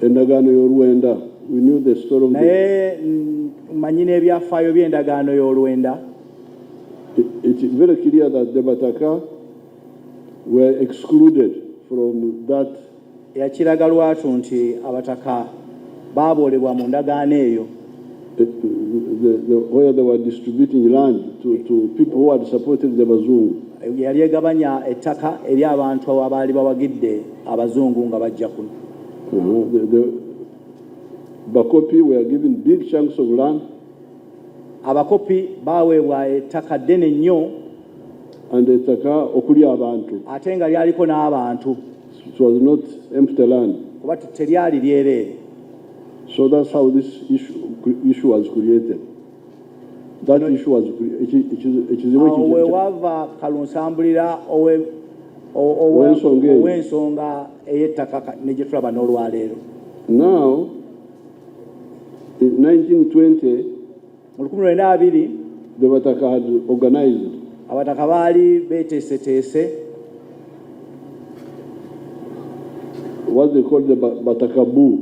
endagaano y'olwenda naye manyi n'ebyafaayo by'endagaano y'olwenda yakiraga lwatu nti abataka baaboolebwa mu ndagaano eyo the, the, the, where they were distributing land to, to people who had supported the Bazungu. yali egabanya ettaka eri abantu abaali bawagidde abazungu nga bajja kuno uh-huh. bakopi were given big chunks of land abakopi baaweebwa ettaka ddene nnyo and ettaka okuli abantu ate nga lyaliko n'abantu it was not empty land kuba teryali lyereere So that's how this issue, issue was created. That issue was ekizibu ekyo we wava kalunsambulira owe ow'ensonga ey'ettaka ne gye tulaba n'olwaleero now in 1920 mu lukumi lwenda abiri the bataka had organized abataka baali beteeseteese what they called the bataka bu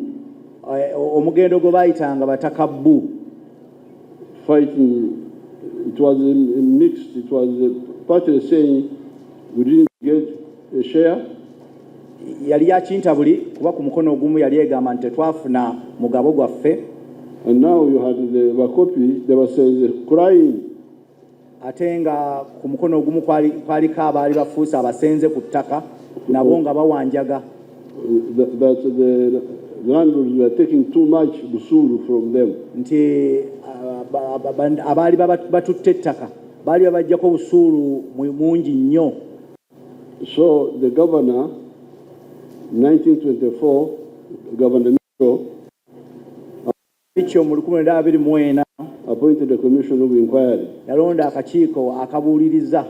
eh, omugendo gwe baayitanga bataka bu fighting it was mixed it was partly saying we didn't get a share yali yakintabuli kuba ku mukono ogumu yali egamba nti tetwafuna mugabo gwaffe And now you had the Bakopi, they were saying, crying. ate nga ku mukono ogumu kwaliko abaali bafuuse abasenze ku ttaka nabo nga bawanjaga nti abaali batutte ettaka baali babajjako busuulu mungi nnyo So the governor, 1924, Governor Mitchell, Mitchell mu lukumi lwenda abiri mu ena appointed a commission of inquiry. yalonda akakiiko akabuuliriza.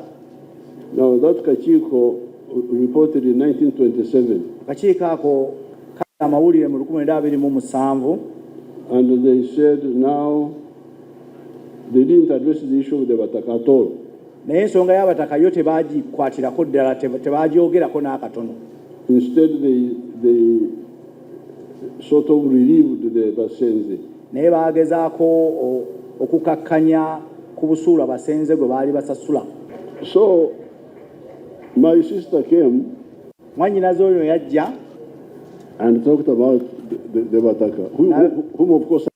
Now that kakiiko reported in 1927. Akakiiko ako kali amawulire mu lukumi lwenda abiri mu musanvu. And they said now They didn't address the issue of the Bataka at all. Naye ensonga y'abataka yo tebagikwatirako ddala, tebagyogerako n'akatono. Instead they, they sort of relieved the Basenze. Naye baagezaako okukakkanya ku busuulu abasenze gwe baali basasula. So my sister came. Mwannyinaze oyo yajja. And talked about the, the, the Bataka, whom, whom of course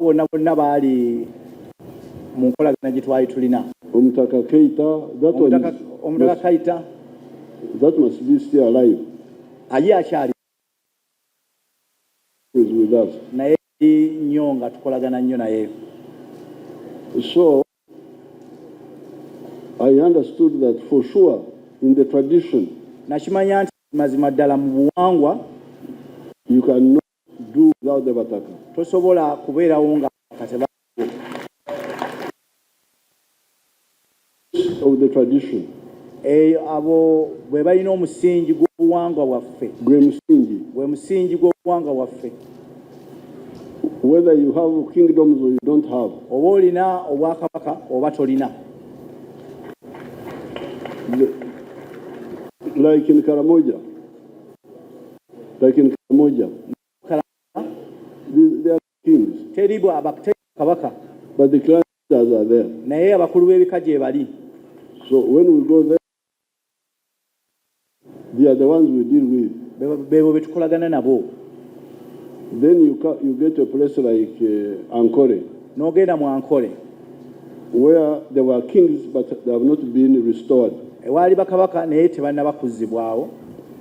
bonna bonna baali mu nkolagana gye twali tulina omutaka keita omutaka kaita that must be still alive aye akyali naye nnyo nga tukolagana nnyo naye so i understood that for sure in the tradition nakimanya nti mazima ddala mu buwangwa you can know do without the bataka tosobola kubeerawo nga kateba of the tradition eyo eh, abo bwe balina omusingi gw'obuwangwa bwaffe gwe musingi gwe musingi gw'obuwangwa bwaffe whether you have kingdoms or you don't have oba olina obwakabaka oba tolina like in karamoja Lakini kila moja teri kabaka but the clan leaders are there naye abakulu b'ebika gye bali so when we go there they are the ones we deal with bebo betukolagana nabo then you, you get a place like uh, Ankole n'ogenda mu Ankole where there were kings but they have not been restored ewaali bakabaka naye tebannaba kuzzibwawo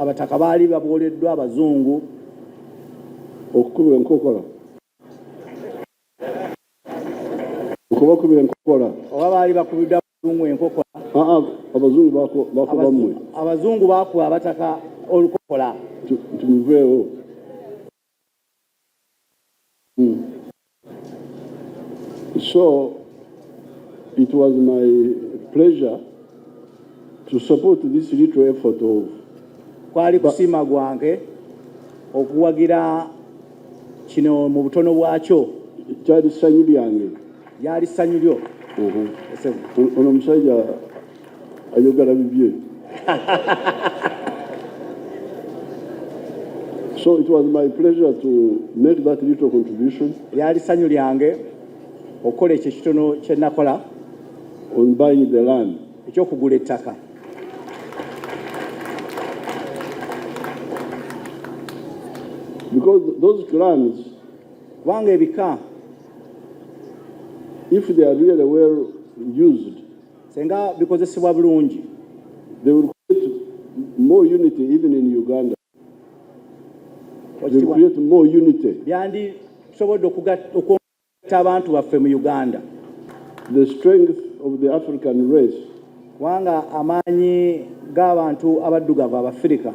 abataka baali babwoleddwa abazungu okukubwa enkokola okubakubira enkokola oba baali bakubidwa abazungu enkokola abazungu bakuba mmwe abazungu bakuba abataka olukokola tubiveewo Mm. So it was my pleasure to support this little effort of kwali kusima gwange okuwagira kino mu butono bwakyo kyali ssanyu lyange lyali ssanyu lyo ono omusajja ayogala bibye so it was my pleasure to make that little contribution lyali sanyu lyange okukola ekyo ekitono kyenakola on buying the land ekyokugula ettaka because those clans kubanga ebika if they are really well used Senga bikozesebwa bulungi. They will create more unity even in Uganda. They will create more unity. Byandi tusobodde okugatta abantu baffe mu Uganda. The strength of the African race. Kubanga amaanyi g'abantu abaddugavu Abafirika.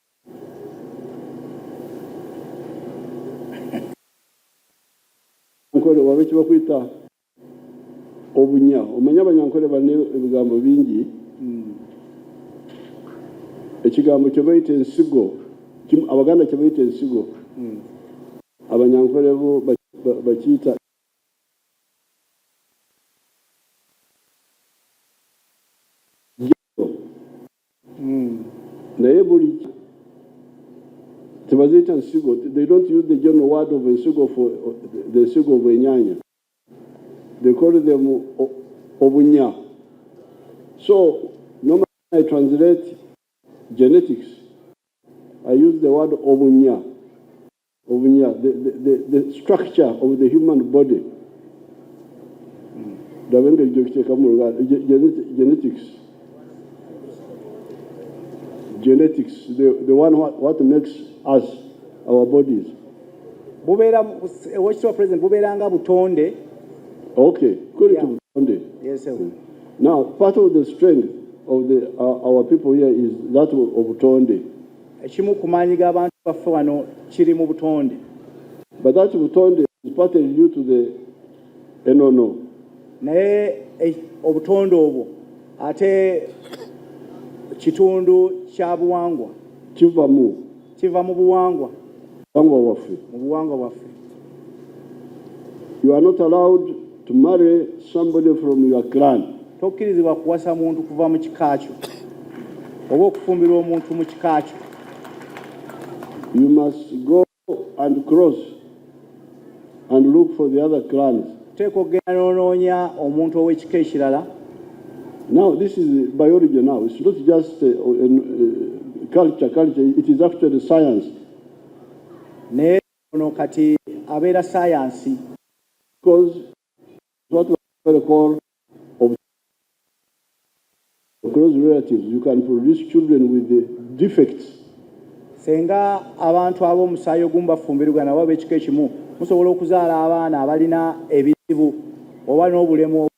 Nyankore waba ekibakwita obunya omanya abanyankore bane ebigambo bingi hmm. ekigambo kyebaita ensigo abaganda kyebaita ensigo hmm. abanyankore bo bakiita naye buli tebaziyita nsigo they don't use the general word of ensigo for the nsigo of enyanya they call them obunya so normally i translate genetics i use the word obunya Obunya, the, the, the, the structure of the human body ndaba engeri gyokiteekamu oluganda genetics genetics the, the one what, what makes us our bodies bubeera owekitiibwa president bubeera nga butonde okay kuli yeah. tubutonde yes, sir. now part of the strength of the, uh, our people here is that of butonde Ekimu ku maanyi g'abantu baffe wano kiri mu butonde. But that butonde is partly due to the enono. Naye eh, obutonde obwo ate kitundu kya buwangwa. Kiva mu. Kiva mu buwangwa. Buwangwa bwaffe. Mu buwangwa bwaffe. You are not allowed to marry somebody from your clan. Tokkirizibwa kuwasa muntu kuva mu kika kyo oba okufumbirwa omuntu mu kika kyo. You must go and cross and look for the other clans. Teeka okugenda n'onoonya omuntu ow'ekika ekirala. Now this is biology now. It's not just a, a, a culture, culture. It is actually science. Ne Ono kati abeera ssaayansi. Ssenga abantu ab'omusaayi ogumu bafumbirigana oba ab'ekika ekimu musobola okuzaala abaana abalina ebizibu oba n'obulemu obumu.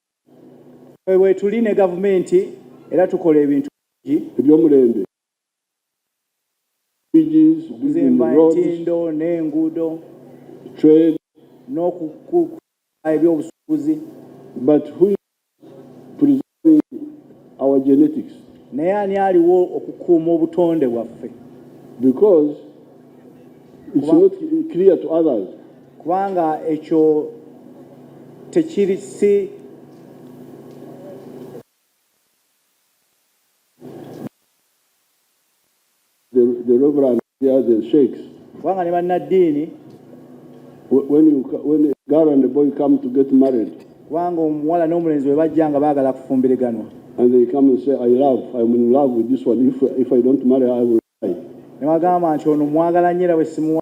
Eyo bwetuli ne gavumenti era tukola ebintu bingi. Eby'omulembe, bridges, Okuzimba entindo n'enguudo. Trade. N'okukuza eby'obusuubuzi. But who is preserving our genetics? Naye ani aliwo okukuuma obutonde bwaffe? Because it's not clear to others. kubanga ekyo tekiri si kubanga ne bannaddiini kubanga omuwala n'omulenzi bwe bajja nga baagala kufumbiriganwa ne bagamba nti ono mwagala nyo era bwe simuwa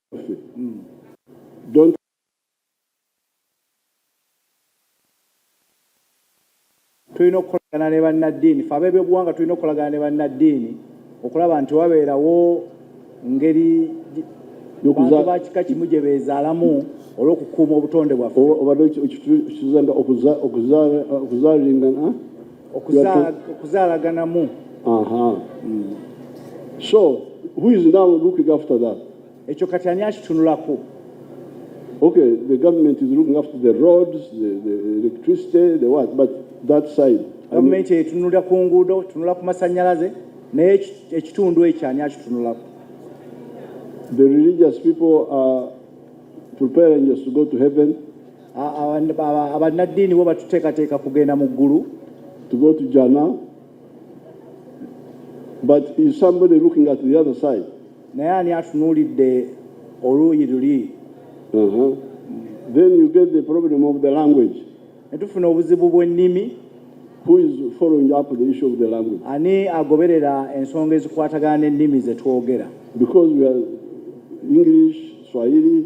Don't tulina okukolagana ne bannaddiini fe ab'ebyobuwanga tulina okukolagana ne bannaddiini okulaba nti wabeerawo ngeri bantu ba kika kimu gye beezaalamu olw'okukuuma obutonde bwaffe obadde okizanga okuzaalingana okuzaalaganamu hmm. so who is now looking after that ekyo kati ani akitunulako okay the government is looking after the roads the, the electricity the what but that side gavumenti etunula ku nguudo tunula ku masanyalaze naye ekitundu ekyo ani akitunulako the religious people are preparing us to go to heaven abannaddiini bo batuteekateeka kugenda mu ggulu to go to Jannah but is somebody looking at the other side naye ani atunuulidde oluuyi luli uh-huh. then you get the problem of the language ne tufuna obuzibu bw'ennimi who is following up the issue of the language ani agoberera ensonga ezikwatagana n'ennimi ze twogera because we are english swahili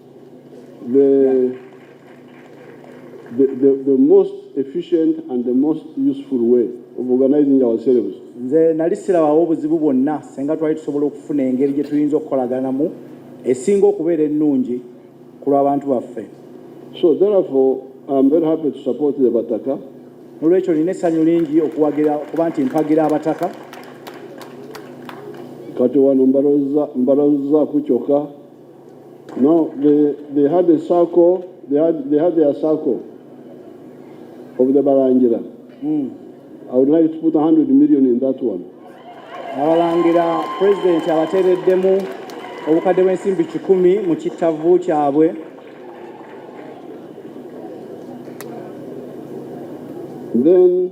The, the, the, the most efficient and the most useful way of organizing ourselves. Nze nali sirabawo obuzibu bwonna senga twali tusobola okufuna engeri gye tuyinza okukolaganamu esinga okubeera ennungi ku lw'abantu baffe. So therefore I am very happy to support the Bataka. Nolwekyo nina essanyu lingi okuwagira kuba nti mpagira abataka. Kati wano mbalozza mbalozza ku kyokka No, they, they had a circle, they had, they had their circle of the Barangira. Mm. I would like to put 100 million in that one. Abalangira president abatereddemu obukadde bw'ensimbi kikumi mu kittavvu kyabwe. Then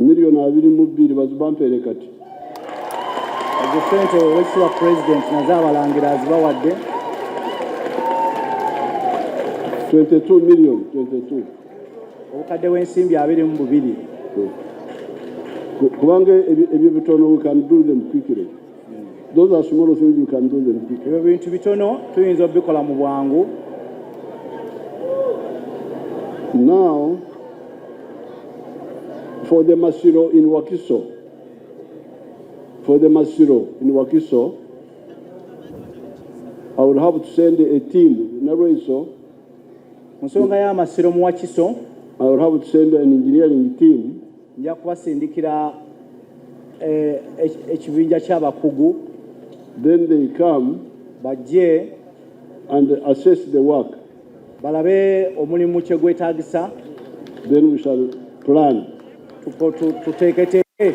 miliyoni abiri mu bbiri bazibampeere kati ezo sente owekitiibwa pulezidenti nazo abalangira azibawadde 22 million 22 obukadde bw'ensimbi abiri mu bubiri kubanga ebyo bitono we can do them quickly ebyo bintu bitono tuyinza obikola mu bwangu Now, for the Masiro in Wakiso, for the Masiro in Wakiso, I would have to send a team, Naroiso. Musonga ya Masiro mu Wakiso. I would have to send an engineering team. nja kubasindikira eh, ekibinja ky'abakugu then they come bajje and assess the work balabe omulimu kye gwetaagisa then we shall plan tuteeketeeke